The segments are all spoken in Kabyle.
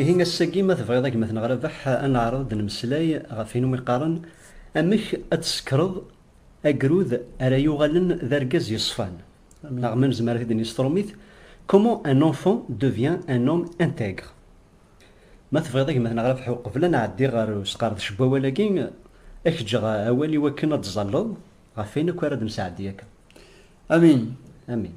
Ihi ass-agi ma tebɣiḍ a gma-tneɣ Rabeḥ ad neɛreḍ ad d-nemmeslay ɣef win umi qqaren amek ad tsekreḍ agrud ara yuɣalen d argaz yeṣfan neɣ ma nezmer ad t-id-nini s trumit Comment un enfant devient un homme intègre. Ma tebɣiḍ a gma-tneɣ Rabeḥ uqbel ad nɛeddi ɣer usqerdec n wawal-agi ad k-ǧǧeɣ awal iwakken ad d-ẓalleḍ ɣef wayen akk ara d-nesɛeddi akka. Amin. Amin.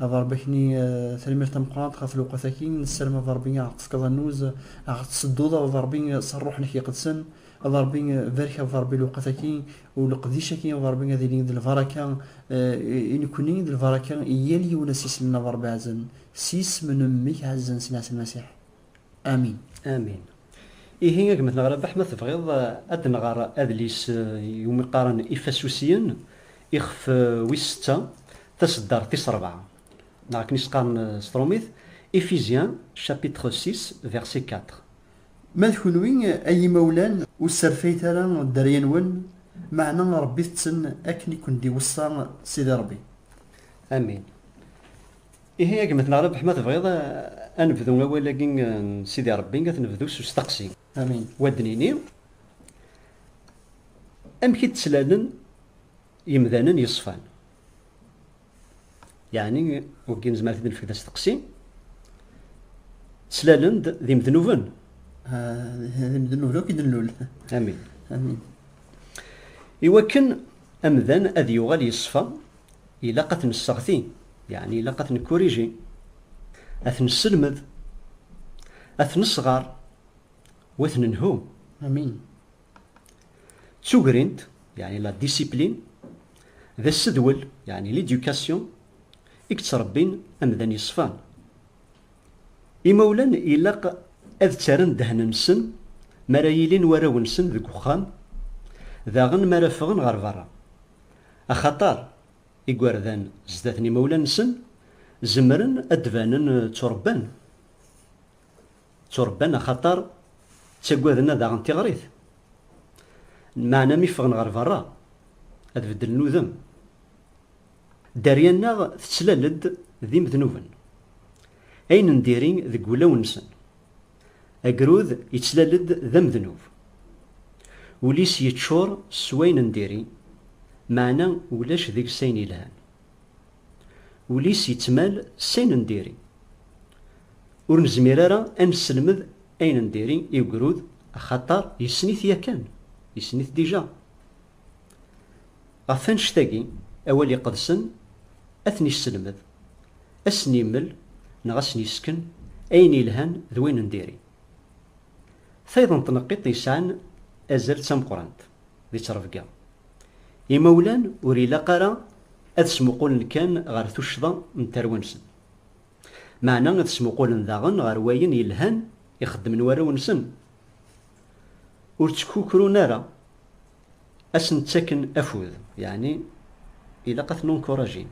A Ṛebbi ad k-nini tanemmirt tameqqrant ɣef lewqat-agi, nessarem a Ṛebbi a ɣ-tefkeḍ annuz, a ɣ-tsedduḍ a Ṛebbi s ṛṛuḥ-nnek iqedsen, a Ṛebbi barek a Ṛebbi lewqat-agi u leqdic-agi a Ṛebbi ad ilin d lbaraka i nekkni d lbaraka i yal yiwen asislem a Ṛebbi ɛzem s yisem n Mmi-k ɛezzan Sina Ɛisa Lmasiḥ. Amin. Amin. Ihi a gma neɣ Rabaḥ ma tebɣiḍ eh, ad nɣer adlis eh, iwumi qqaren Ifasusiyen ixef eh, wis setta taseddart tis rebɛa neɣ akken i s-qqaren s trumit Ephésiens chapitre 6 verset 4. Ma d kunwi ay imawlan ur sserfayet ara dderya-nwen, meɛna rebbit-ten akken i ken-d-iweṣṣa Sidi Rebbi. Amin. Ihi a gma-tneɣ Rabeḥ ma tebɣiḍ ad nebdu awal-agi n Sidi Rebbi ad t-nebdu s usteqsi. Amin. U ad d-nini, Amek i d-ttlalen yemdanen yeṣfan? Yeɛni wagi nezmer ad t-id-nefk d asteqsi, ttlalen-d d imednuben? Aha, d imednuben akk i d-nlul. Amin. Amin. Iwakken amdan ad yuɣal yeṣfa, Ilaq ad ten-nesseɣti, yeɛni ilaq ad ten-nekkuriji, ad ten-nesselmed, ad ten-nesɣer u ad ten-nelhu. Amin. D tugrint, yeɛni la discipline, d assedwel, yeɛni l'éducation, i yettrebbin amdan yeṣfan. Imawlan ilaq ad ttarren ddehn-nsen mi ara yilin warraw-nsen deg uxxam, daɣen mi ara ffɣen ɣer berra. Axaṭer igerdan zdat n imawlan-nsen zemren ad d-banen tturebban, tturebban axaṭer ttagaden ad aɣen tiɣrit, meɛna mi ffɣen ɣer berra ad beddlen udem. Dderya-nneɣ tettlal-d d imednuben, ayen n diri deg wulawen-nsen. Agrud yettlal-d d amednub. Ul-is yeččur s wayen n diri, meɛna ulac deg-s ayen yelhan. Ul-is yettmal s ayen n diri. Ur nezmir ara ad nesselmed ayen n diri i ugrud axaṭer yessen-it yakan, yessen-it dija. Ɣef wannect-agi, awal iqedsen ad ten-isselmed, ad sen-immel neɣ ad sen-isken ayen yelhan d wayen n diri. Tayeḍ n tneqqiṭ yesɛan azal d tameqqrant di ttrebga. Imawlan ur ilaq ara ad smuqulen kan ɣer tuccḍa n tarwa-nsen, meɛna ad smuqulen daɣen ɣer wayen yelhan i xeddmen warraw-nsen. Ur ttkukrun ara ad sen-ttaken afud, yeɛni ilaq ad ten-enkurajin.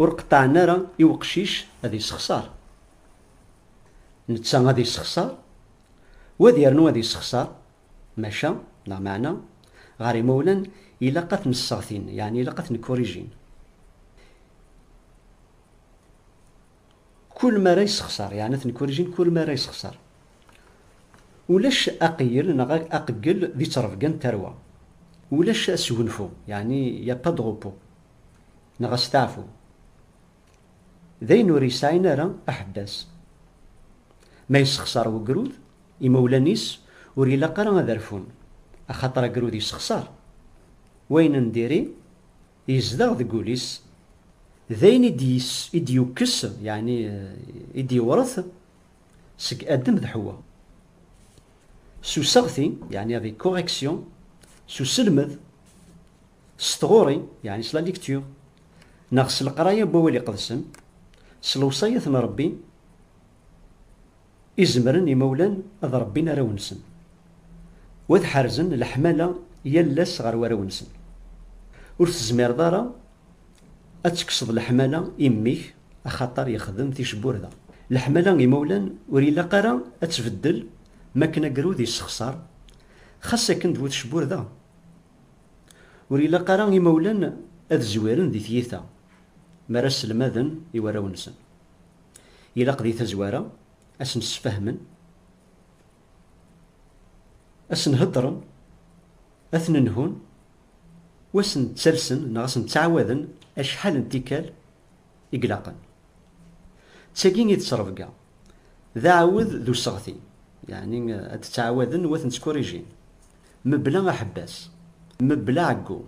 Ur qeṭṭɛen ara i weqcic ad yessexṣar. Netta ad yessexṣar, wa ad yernu ad yessexṣar, maca, neɣ meɛna, ɣer yimawlan ilaq ad ten-sseɣtin, yeɛni ilaq ad ten-kurijin. Kul mi ara yessexṣer, yeɛni ad ten-kkurijin kul mi ara yessexṣer. Ulac aqeyyel neɣ aqeggel di ttrebga n tarwa. Ulac asgunfu, yeɛni il n'y a pas de repos, neɣ asteɛfu. D ayen ur yesɛin ara aḥebbas. Ma yessexṣer wegrud, imawlan-is ur ilaq ara ad rfun, axaṭer agrud yessexṣer. Wayen n diri, Yezdeɣ deg wul-is, d ayen i d-yukkes, yeɛni i d-yewret seg Adem d Ḥewwa. S useɣti, yeɛni avec correction, s uselmed, s tɣuri, yeɛni s la lecture, neɣ s leqraya n Wawal Iqedsen, s lewṣayat n Rebbi, I zemren yimawlan ad rebbin arraw-nsen u ad ḥerzen leḥmala yal ass ɣer warraw-nsen. Ur tezmireḍ ara ad tekkseḍ leḥmala i mmi-k axaṭer yexdem ticburda. Leḥmala n yimawlan ur ilaq ara ad tbeddel mi akken agrud yessexṣar, xas akken d bu tecburda. Ur ilaq ara imawlan ad zwiren di tyita mi ara sselmaden i warraw-nsen. Ilaq di tazwara ad sen-sfahmen, ad sen-heddren, ad ten-nhun, u ad sen-ttalsen neɣ ad sen-ttɛawaden acḥal n tikkal i ilaqen. D tagi i d ttrebga, d aɛawed d useɣti, yeɛni ad d-ttɛawaden u ad ten-ttkurijin, Mebla aḥebbas, mebla ɛeggu.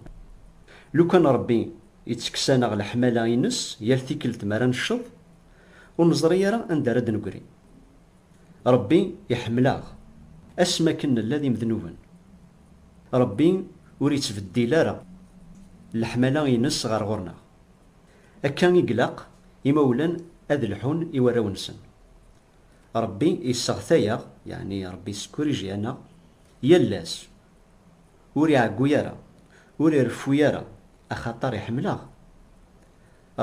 Lukan Ṛebbi ittekkes-aneɣ leḥmala ines yal tikkelt mi ara necceḍ, ur neẓri ara anda ara d-negri. Ṛebbi iḥemmel-aɣ asmi akken nella d imednuben. Ṛebbi ur ittbeddil ara leḥmala ines ɣer ɣur-neɣ. Akka i glaq imawlan ad lḥun i warraw-nsen. Ṛebbi isseɣtay-aɣ, yeɛni Ṛebbi yessekurij-aneɣ yal ass. Ur iɛeggu ara, ur ireffu ara, axaṭer iḥemmel-aɣ.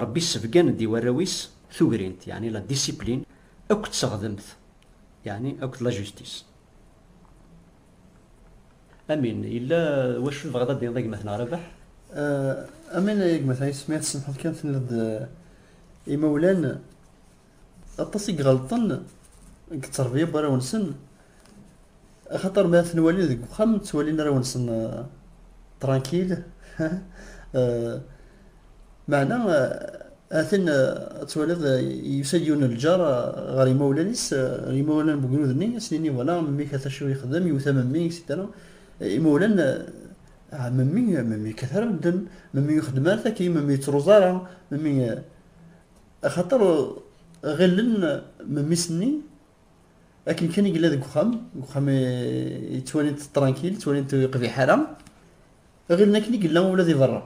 Ṛebbi issebgan-d i warraw-is tugrint, yeɛni la discipline, akked teɣdemt, yeɛni akked la justice. Amin, yella wacu i tebɣiḍ ad d-tiniḍ a gma-tneɣ Rabeḥ? Amin a gma-tneɣ Yis, mi ara tsemḥeḍ kan tenniḍ-d imawlan. Aṭas i iɣelṭen deg tteṛbiya n warraw-nsen, axaṭer mi ara ten-walin deg uxxam ttwalin arraw-nsen trankil, meɛna ha-t-an ad twaliḍ yusa-d yiwen n lǧar ɣer yimawlan-is, yimawlan n wegrud-nni snin-iyi wala memmi-k ha-t acu ixeddem, iwet-a memmi, isidra imawlan, ah memmi, memmi yekkat ara medden, memmi ur ixeddem ara takka, memmi ur yettruẓ ara, memmi. Axaṭer ɣillen memmi-s-nni akken kan i yella deg uxxam, deg uxxam yettwalin-t trankil, ttwalin-t ur yeqbiḥ ara, ɣillen akken i yella ula di berra.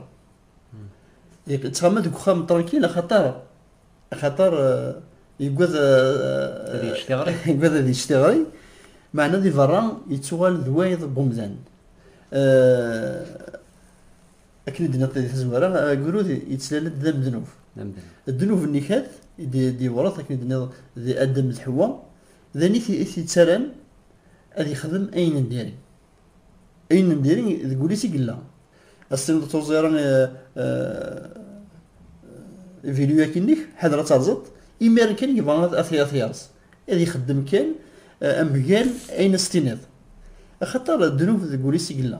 Yettɣama deg uxxam trankil axaṭer axaṭer yegwad ad yečč tiɣri, yegwad ad yečč tiɣri, meɛna di berra yettuɣal d wayeḍ n umdan. Akken i d-nniḍ di tazwara, agrud yettlal-d d amednub. Ddnub n Nikat i d-yewreḍ, akken i d-nniḍ, di Adem d Ḥewwa, d ayen i t-yettaran ad yexdem ayen n diri. Ayen n diri deg wul-is i yella. Ad s-tiniḍ ur tuẓẓi ara iviluyakinek, ḥader ad terẓeḍ, imiren kan yebɣa ad t-yerẓ, ad ixeddem kan mgal ayen ad s-tiniḍ. Axaṭer ddnub deg wul-is i yella.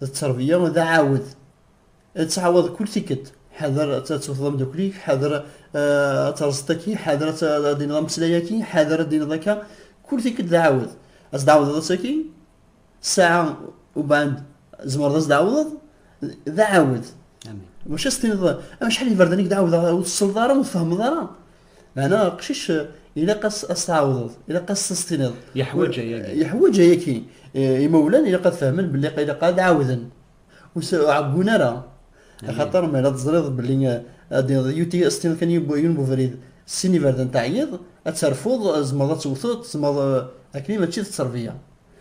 d tterbeyya d aɛawed. Ttɛawad kul tikkelt. Ḥader ad tewteḍ amdakkel-ik, ḥader ad terẓeḍ aki, ḥader ad d-tiniḍ ameslay aki, ḥader ad d-tiniḍ akka. Kul tikkelt d aɛawed. Ad s-d-tɛawdeḍ ass aki, ssaɛa ubeɛd tzemreḍ ad s-d-tɛawdeḍ, d aɛawed. Maca ad s-tiniḍ acḥal iberdan i k-d-ɛawdeɣ ur tessneḍ ara, ur tfehmeḍ ara. Meɛna aqcic ilaq ad s-tɛawdeḍ, ilaq ad s-tiniḍ. Yeḥwaǧ ayagi. Yeḥwaǧ ayagi. Imawlan ilaq ad fehmen belli ilaq ad ɛawden. Ur ɛeggun ara. Axaṭer mi ara teẓriḍ belli ad d-tiniḍ yuti ad s-tiniḍ kan yiwen n ubrid s sin iberdan teɛyiḍ, ad terfuḍ, tzemreḍ ad tewteḍ, tzemreḍ, akkenni mačči d tterbiya.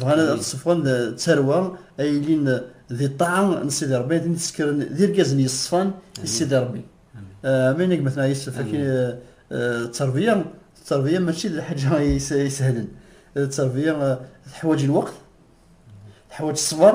Bɣan ad ṣefɣen d tarwa ay ilin di ṭṭaɛa n Sidi Rebbi, ad ten-id-ssekren d irgazen yeṣfan i Sidi Rebbi. Amin a gma-tneɣ Yusef, akin d terbiya, d terbiya mačči d lḥaǧa isehlen, d terbiya teḥwaǧ lweqt, teḥwaǧ ṣṣber.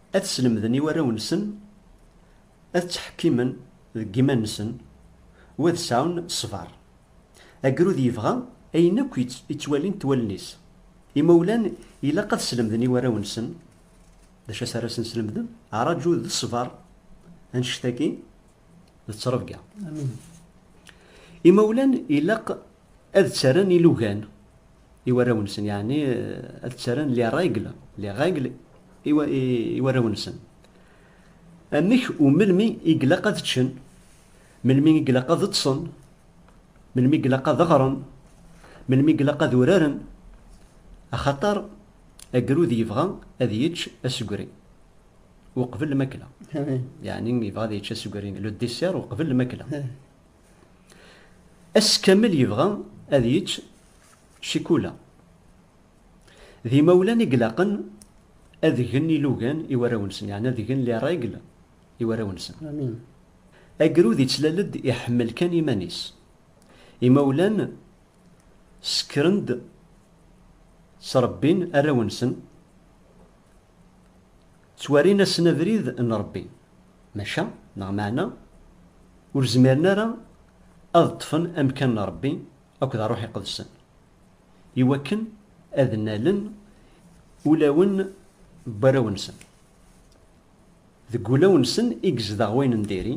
Ad slemden i warraw-nsen ad ttḥekkimen deg yiman-nsen u ad sɛun ṣṣber. Agrud yebɣa ayen akk i ttwalint wallen-is. Imawlan ilaq ad slemden i warraw-nsen d acu ara asen-slemden? Ṛaju d ṣṣber, annect-agi d ttrebga. Imawlan ilaq ad ttarran ilugan i warraw-nsen, yeɛni ad ttarran les règles, les règles i, i, i warraw-nsen. Amek u melmi i glaq ad ččen, melmi i glaq ad ṭṭsen, melmi i glaq ad ɣren, melmi i glaq ad uraren, axaṭer agrud yebɣa ad yečč asegri uqbel lmakla, yeɛni yebɣa ad yečč asegri, le dessert, uqbel lmakla. Ass kamel yebɣa ad yečč cikula. D imawlan i ilaqen ad gen ilugan i warraw-nsen, yeɛni ad gen les règles i warraw-nsen. Agrud yettlal-d iḥemmel kan iman-is. Imawlan ssekren-d, ttrebbin arraw-nsen Ttwarin-asen abrid n Ṛebbi, maca, neɣ meɛna, ur zmiren ara ad ṭṭfen amkan n Ṛebbi akked Ṛṛuḥ Iqedsen, iwakken ad nnalen ulawen n warraw-nsen. Deg wulawen-nsen i yezdeɣ wayen n diri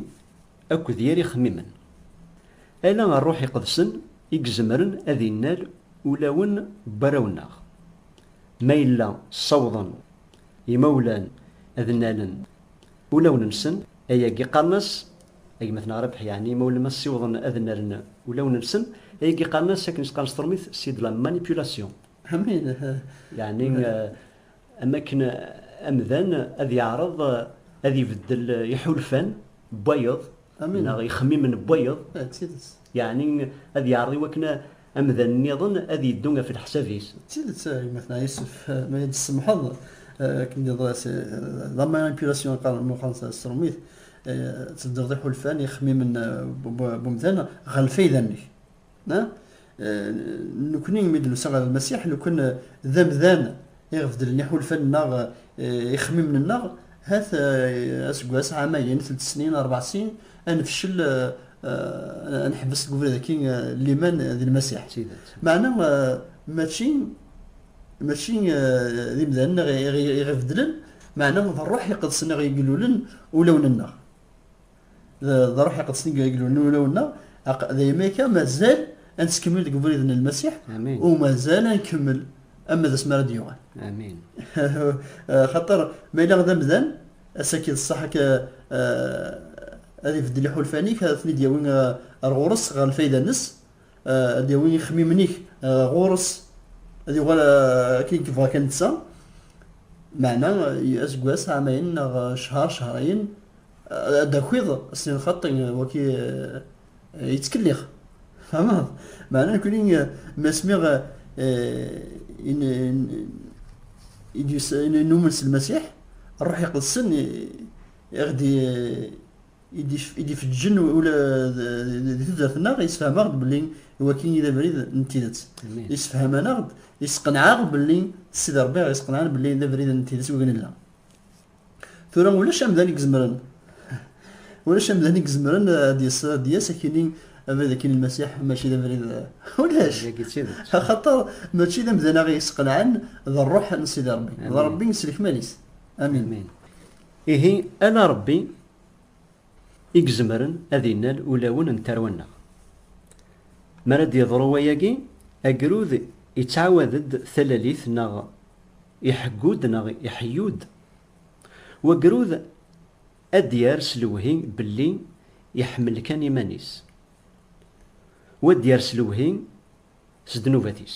akked yir ixemmimen. Ala Rruḥ Iqedsen i izemren ad innal ulawen n warraw-nneɣ. Ma yella ssawḍen yimawlan ad nnalen ulawen-nsen, ayagi qqaren-as, Agmat-nneɣ Rabeḥ, yeɛni imawlan ma ssiwḍen ad nnalen ulawen-nsen, ayagi qqaren-as akken i s-qqaren s teṛmit, c'est de la manipulation. Amin! Yeɛni Am akken amdan ad yeɛreḍ ad ibeddel iḥulfan n wayeḍ neɣ ixemmimen n wayeḍ, yeɛni ad yeɛreḍ i wakken amdan nniḍen ad yeddu ɣef leḥsab-is. D tidet a gma-tneɣ Yusef, ma i yi-d-tsemḥeḍ, akken d-yeḍra s la manipulation i qqaren meqqar s tṛumit, tbeddleḍ iḥulfan, ixemmimen n umdan ɣer lfayda-nnek. Nekkni imi d-nusa ɣer Lmasiḥ, lukan d amdan i ɣ-beddlen iḥulfan-nneɣ, ixemmimen-nneɣ, hat aseggas, ɛamayen, telt snin, rbeɛ sin, ad nefcel, ad neḥbes deg ubrid-agi n liman d Lmasiḥ. Meɛna mačči mačči d imdanen i ɣ-ibeddlen, meɛna d Ṛṛuḥ Iqedsen i ɣ-igellulen ulawen-nneɣ. d ruḥ iqedsen i igellu n ulawen-nneɣ, aq, daymi akka mazal ad nettkemmil deg ubrid n Lmasiḥ, Amin. u mazal ad nkemmel ama d asmi ara d-yuɣal. Amin. Xaṭer, ma yella d amdan, ass-agi d ṣṣeḥ akka ad ibeddel iḥulfan-ik, ad ten-id-yawi ar ɣur-s, ɣer lfayda-nnes, ad d-yawi ixemmimen-ik ɣur-s, ad yuɣal akken i yebɣa kan netta, meɛna aseggas, ɛamayen neɣ ccehr, cehrayen, ad d-takiḍ s lxaṭi waki yettkellix tamaḍ meɛna nekni ma smiɣ numen s lmasiḥ ṛṛuḥ iqedsen iɣ-d id-ifeǧǧen ula di tudert-nneɣ yessefham-aɣ-d belli waki i d abrid n tidet yessefhaman-aɣ-d yesqenɛaɣ belli s id ṛebbi i ɣ-yesqenɛan belli d abrid n tidet wigi nella. Tura ulac amdan i izemren ulac amdan i izemren ad yas ad yas akini abrid akini lmasiḥ mačči d abrid ulac axaṭer mačči d amdan aɣ yesqelɛen d rruḥ n sidi rebbi d rebbi s lekmal-is amin ihi ala rebbi i izemren ad innal ulawen n tarwa-nneɣ. Mi ara d-yeḍru wayagi, agrud ittɛawad-d talalit neɣ iḥeggu-d neɣ iḥeyyu-d. Wagrud ad d-yerr s lewhi belli iḥemmel kan iman-is, wa ad d-yerr s lewhi s ddnubat-is.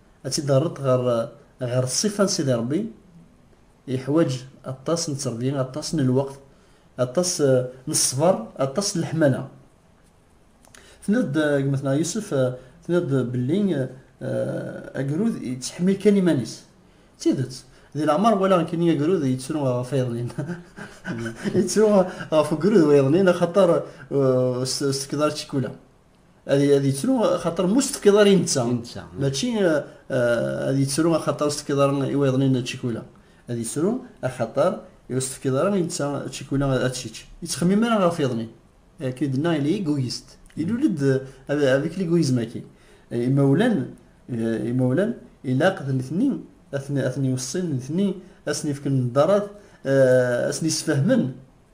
Ad tt-id-terreḍ ɣer ɣer ṣṣifa n Sidi Ṛebbi, yeḥwaǧ aṭas n tteṛbi, aṭas n lweqt, aṭas n ṣṣber, aṭas n leḥmala. Tenniḍ-d gma-tneɣ Yusef, tenniḍ-d belli agrud yettḥemmil kan iman-is. D tidet, di leɛmer walaɣ nekkini agrud yettru ɣef wayeḍnin. Yettru ɣef ugrud wayeḍnin axaṭer ur s-tekkeḍ ara ccikula. ad ad yettru xaṭer mu s-tefkiḍ ara i netta I netta. mačči eh, eh, ad yettru axaṭer s-tefkiḍ ara i wayeḍnin čikula ad yettru axaṭer ur s-tefkiḍ ara i netta čikula ad tečč yettxemmim ara ɣef yeḍnin akken i d-nnaɣ yella egoyist ilul-d eh, avec l'égoïsme-agi Eh, imawlan eh, imawlan ilaq d nitni ad ten- ad ten-iweṣṣin nitni ad sen-ifken ddarat eh, ad sen-isfehmen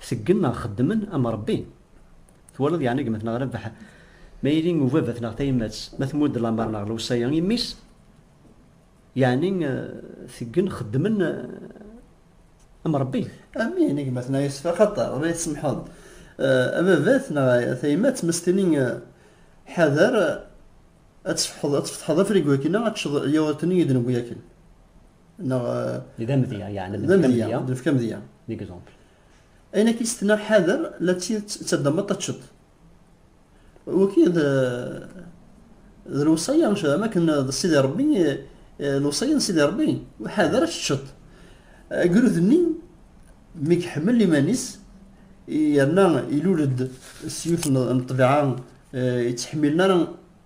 Seggen neɣ xeddmen am Ṛebbi. Twalaḍ yeɛni gma-tneɣ Rabaḥ, ma yili ubabat neɣ tayemmat, ma tmudd lameṛ neɣ lewṣaya i mmi-s, yeɛni teggen xeddmen am Ṛebbi. A mmi ini gma-tneɣ Yusef, axaṭer, ma yi-tsemḥeḍ, a babat neɣ a tayemmat, ma s-tini ḥader ad tfetḥeḍ afrigu-agi neɣ ad teččeḍ lyawṛut-nni i d-newwi akken. neɣ d amedya yeɛni d amedya nefk amedya d exemple ayen akka isetna ḥader la ttaddameḍ taččeḍ waki d d lewṣaya am akken d sidi rebbi lewṣaya n sidi rebbi ḥader ad teččeḍ agrud-nni mi iḥemmel iman-is yerna ilul-d s yiwet n ṭbiɛa yettḥemmilen ara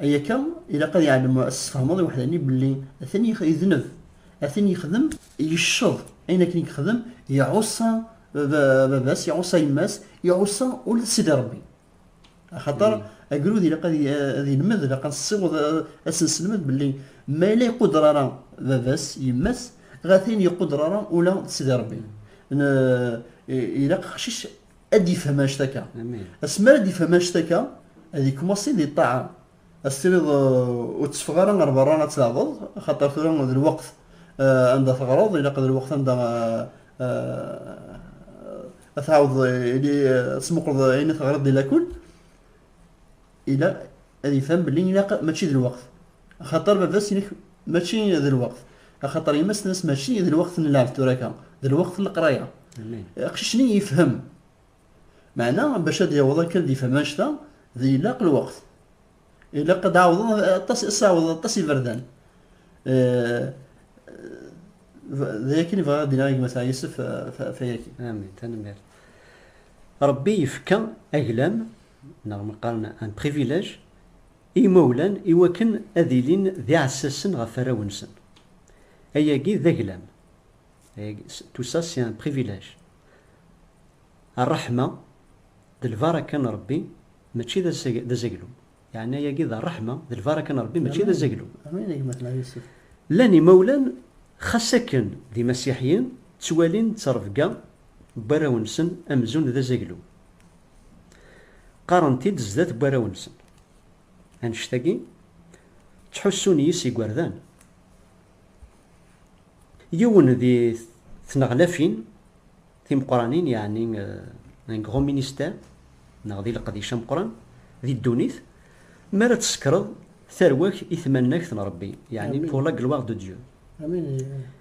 Ay akka, ilaq ad iɛlem, ad s-tfehmeḍ i weḥd-nni belli atan idneb, atan yexdem, yecceḍ ayen akken i yexdem, iɛuṣa baba-s, iɛuṣa yemma-s, iɛuṣa ula d Sidi Ṛebbi. Axaṭer agrud ilaq ad ilmed, ilaq ad nessiweḍ ad s-nesselmed belli ma yella iqudder ara baba-s, yemma-s, ɣa tin iqudder ara ula d Sidi Ṛebbi. Ilaq aqcic ad ifhem anect-akka asmi ara d-ifhem anect-akka ad yekmasi di ṭṭaɛa ad s-tiniḍ ur tteffeɣ ara ɣer berra ad tleɛbeḍ xaṭer tura d lweqt anda teɣreḍ ilaq d lweqt anda ad tɛawdeḍ ad tmuqleḍ ayen i teɣriḍ di lakul ila ad ifhem belli ilaq mačči d lweqt, axaṭer baba-s inek mačči d lweqt, axaṭer yemma-s tenna-s mačči d lweqt n lɛebd tura akka, d lweqt n leqraya. Aqcic-nni yefhem. Meɛna bac ad yaweḍ akka ad ifhem annect-a, d ilaq lweqt. Ilaq ad ɛawḍen aṭas, ad s-ɛawḍen aṭas iberdan. D akken i bɣiɣ ad d-iniɣ i gma Seɛdi Yusef ɣef wayagi. Amin, tanemmirt. Ṛebbi yefka aglam neɣ ma qqaren un privilège, i yimawlan i wakken ad ilin d iɛessasen ɣef warraw-nsen. Ayagi d aglam. Tout ça c'est un privilège. Rreḥma d lbaraka n Ṛebbi mačči d azaglum. Yeɛni ayagi d rreḥma d lbaraka n Ṛebbi mačči d azaglum. Llan imawlan xas akken d imasiḥiyen ttwalin ttrebga n warraw-nsen amzun d azaglum. Qqaren-t-id zdat n warraw-nsen. Annect-agi, ttḥussun yis yigerdan. Yiwen di tneɣlafin timeqqranin, yeɛni un grand ministère, neɣ di leqdic ameqqran di ddunit, mi ara tsekkreḍ tarwa-k i tmannagt n Rebbi, yeɛni pour la gloire de Dieu.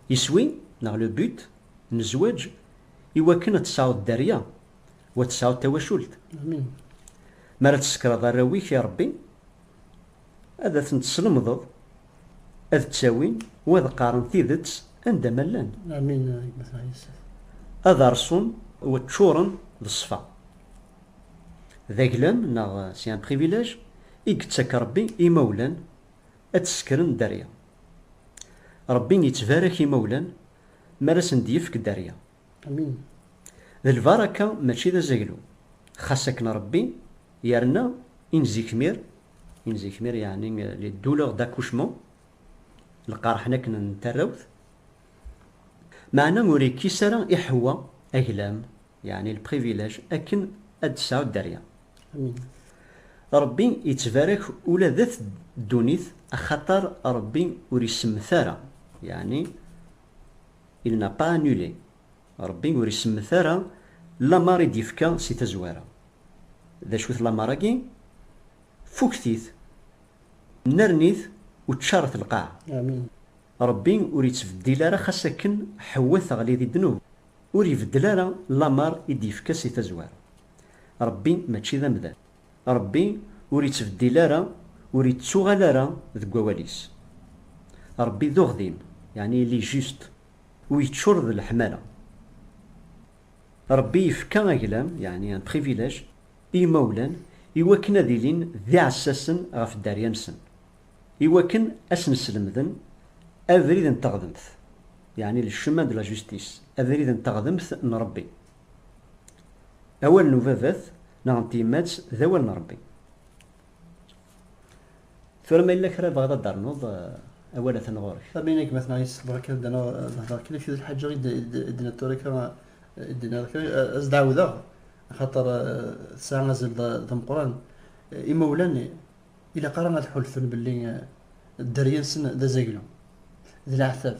Iswi, neɣ le but, n zzwaǧ, iwakken ad tesɛuḍ dderya wa tesɛuḍ tawacult mi ara tsekreḍ arraw-ik i Rebbi ad aten-teslemdeḍ ad ttawin wa ad qqaren tidet anda ma llan ad rṣun wa ččuren d ṣṣfa d aglam neɣ si un privilège i yettak Rebbi i imawlan ad tsekren dderya Rebbi yettbarak imawlan mi ara sen-d-yefk dderya. Amin. D lbaraka mačči d azaglu. Xas akken Rebbi yerna in zikmir, in zikmir yeɛni les douleurs d'accouchement, lqerḥen akken n tarrawt, meɛna ur ikkis ara i Ḥewwa aglam, yeɛni le privilège, akken ad d-tesɛu dderya. Amin. Rebbi yettbarak ula d at ddunit axaṭer Rebbi ur isemmet ara, yeɛni Il n'a pas annulé, Rebbi ur isemmet ara lamer i d-yefka si tazwara. D acu-t lamer-agi? Fukket-it, nnerni-t u ččaret lqaɛa. Rebbi ur ittbeddil ara xas akken Ḥewwa teɣli di ddnub, ur ibeddel ara lamer i d-yefka si tazwara. Rebbi mačči d amdan. Ṛebbi ur ittbeddil ara, ur ittuɣal ara deg wawal-is. Ṛebbi d uɣdim, yeɛni il est juste, u yeččur d leḥmala. Ṛebbi yefka aglam, yeɛni un privilège, i yimawlan i wakken ad ilin d iɛessasen ɣef dderya-nsen, i wakken a sen-slemden abrid n teɣdemt, yeɛni le chemin de la justice, abrid n teɣdemt n Ṛebbi. Awal n ubabat neɣ n tyemmat d awal n Rebbi. Tura ma yella kra bɣiḍ ad d-ternuḍ, awal atan ɣur-k. Am ayen gma-tneɣ yessexber akka ad d-naɣ ad hdeṛ kan akka d lḥaǧa i d-tenniḍ tura akka i d-tenniḍ akka ad s-d-ɛawdeɣ axaṭer tesɛa azal d ameqqran. Imawlan ilaq ara ad ḥulfun belli dderya-nsen d azaglu, d leɛtab,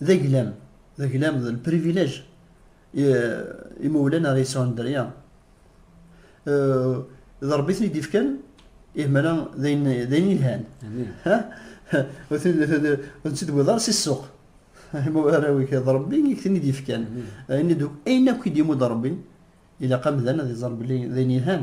d aglam, d aglam, d lprivilèj imawlan ara yesɛun dderya. D Ṛebbi i ten-id-ifkan, ihmala d ayen yelhan. Ur tt-id-tewwiḍ ara si ssuq. Arraw-ik d Ṛebbi i k-ten-id-ifkan. Ayen akk i d-imudd Ṛebbi, ilaq amdan ad iẓer belli d ayen yelhan.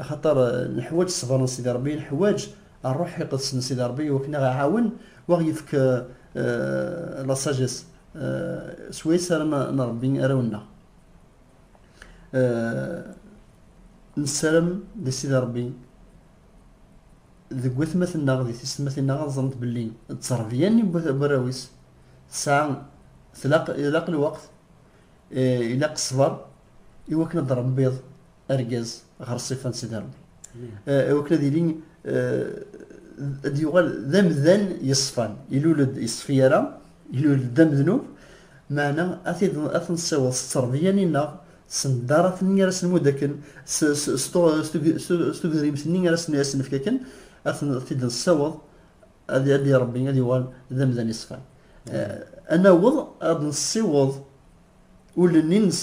Axaṭer neḥwaǧ ṣṣber n Sidi Ṛebbi, neḥwaǧ Ṛṛuḥ Iqedsen n Sidi Ṛebbi i wakken aɣ iɛawen u aɣ yefk la sagesse s wayes ara nṛebbi arraw-nneɣ. Nessaram di Sidi Ṛebbi deg watmaten-nneɣ, di tisetmatin-nneɣ ad ẓrent belli d tteṛbiya nni n warraw-is tesɛa, tlaq, ilaq lweqt, ilaq ṣṣber i wakken ad ṛebbiḍ argaz ɣer ṣṣifa n Sidi Ṛebbi iwakken ad yili ad yuɣal d amdan yeṣfan ilul-d yeṣfi ara ilul-d d amednub meɛna ad ten-ssiweḍ s tterbiya-nni-nneɣ s ndarat-nni ara s-nmudd akken s tugrimt-nni ara s-nefk akken ad t-id-nessiweḍ ad iṛebbi ad yuɣal d amdan yeṣfan ad naweḍ ad nessiweḍ ul-nni-nnes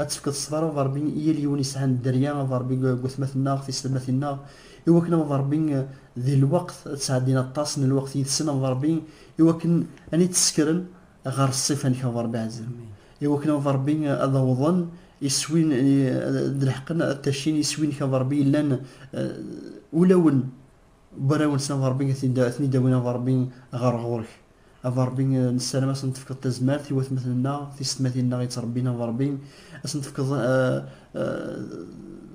Ad tefkeḍ ṣṣber a Ṛebbi i yal yiwen yesɛan dderya, a Ṛebbi, deg watmaten-nneɣ, tiselmatin-nneɣ, i wakken, a Ṛebbi, di lweqt, ad sɛeddin aṭas n lweqt yid-sen, a Ṛebbi, i wakken ad it-ssekren ɣer ṣṣifa-nnek, a Ṛebbi ɛzizen, i wakken, a Ṛebbi, ad awḍen iswi, ad leḥqen, ad ttacin iswi-nnek, a Ṛebbi, yellan ulawen n warraw-nsen, a Ṛebbi, ad ten-id-awin, a Ṛebbi, ɣer ɣur-k. A Ṛebbi, nessaram ad sen-tefkeḍ tazmert i watmaten-nneɣ, tisetmatin-nneɣ yettṛebbin, a Ṛebbi, ad sen-tefkeḍ,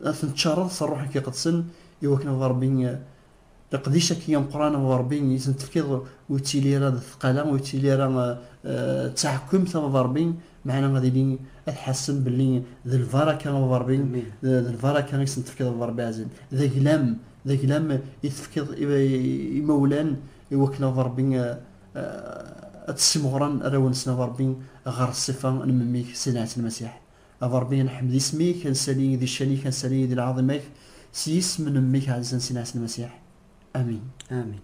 ad ten-tččaṛṛeḍ s Ṛṛuḥ-ik Iqedsen, i wakken, a Ṛebbi, leqdic-agi ameqran, a Ṛebbi, i ten-tefkiḍ ur yettili ara d tqala, ur yettili ara d taɛekkemt, a Ṛebbi, meɛna ad ilin ad ḥassen belli d lbaraka, a Ṛebbi, d lbaraka i sen-tefkiḍ, a Ṛebbi ɛziz, d aglam, d aglam i tefkiḍ i yimawlan iwakken ad Ṛebbi ad tessimɣren arraw-nsen ad Ṛebbi ɣer ṣṣifa n Memmi-k s Ɛisa Lmasiḥ. A Ṛebbi ad neḥmed isem-ik, ad nsali di ccan-ik, ad nsali di lɛaḍima-k s yisem n Memmi-k aɛezzan s Ɛisa Lmasiḥ. Amin. Amin.